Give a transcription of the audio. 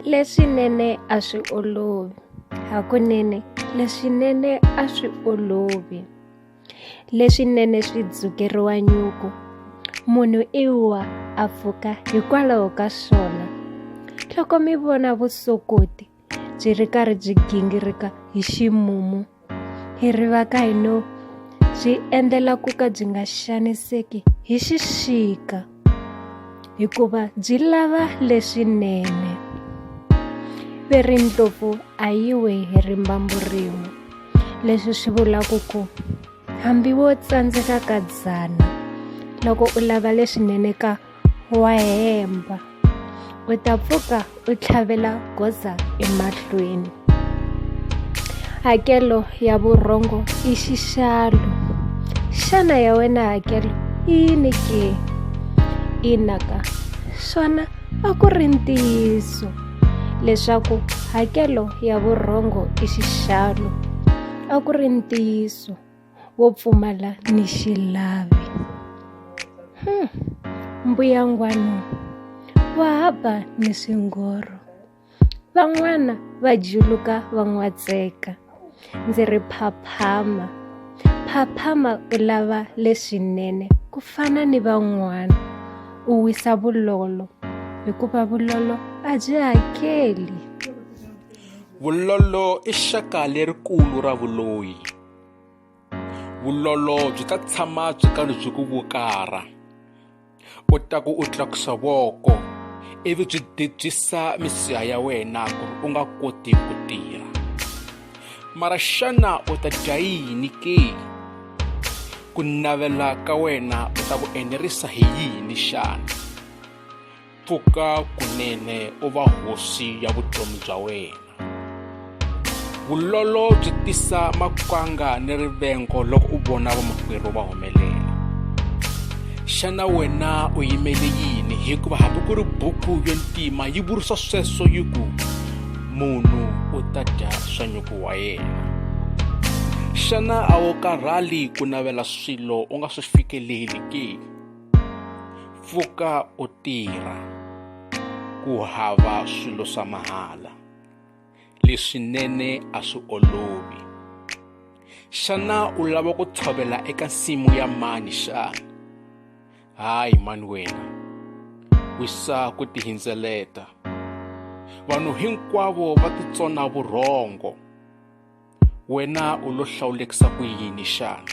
leswinene a swi olovi hakunene leswinene a swi olovi leswinene swi dzukeriwa nyuku munhu i wa a pfuka hikwalaho ka swona loko mi vona vusokoti byi ri karhi byi gingirika hi ximumu hi rivaka hi no byi endlela ku ka byi nga xaniseki hi xixika hikuva byi lava leswinene ve ri ndlopfu a yi we hi rimbambu rin'we leswi swi vulaka ku hambi wo tsandzeka ka dzana loko u lava leswinene ka wa hemba u ta pfuka u tlhavela goza emahlweni hakelo ya vurhongo i xixalo xana ya wena hakelo i yini ke inaka swona a ku ri ntiyiso leswaku hakelo ya vurhongo i xixalo a ku ri ntiyiso wo pfumala ni xilavi hmm. mbuyangwano wa hava ni swingoro van'wana va juluka va n'watseka ndzi ri phaphama phaphama u lava leswinene ku fana ni van'wana u wisa vulolo hikuva vulolo a byi hakeli vulolo i xaka lerikulu ra vuloyi vulolo byi ta tshama byi karhi byi ku vukara u ta ku u tlakusa voko ivi byi debyisa misiha ya wena ku ri u nga koti ku tirha mara xana u ta dya yini ke ku navela ka wena u ta ku enerisa hi yini xana pfuka kunene u va hosi ya vutomi bya wena vulolo byi tisa makwanga ni rivengo loko u vona vamakwerhu va humelela xana wena u yimele yini hikuva hambi ku ri buku yo ntima yi vurisa sweswo yi ku munhu u ta dya swa nyuku wa yena xana a wu karhali ku navela swilo u nga swi fikeleli ke pfuka u tirha ku hava swilo swa mahala leswinene a swi olovi xana u lava ku tshovela eka nsimu ya mani xana hayi mani wena wisa ku tihindzeleta vanhu hinkwavo va titsona vurhongo wena u lo hlawulekisa ku yini xana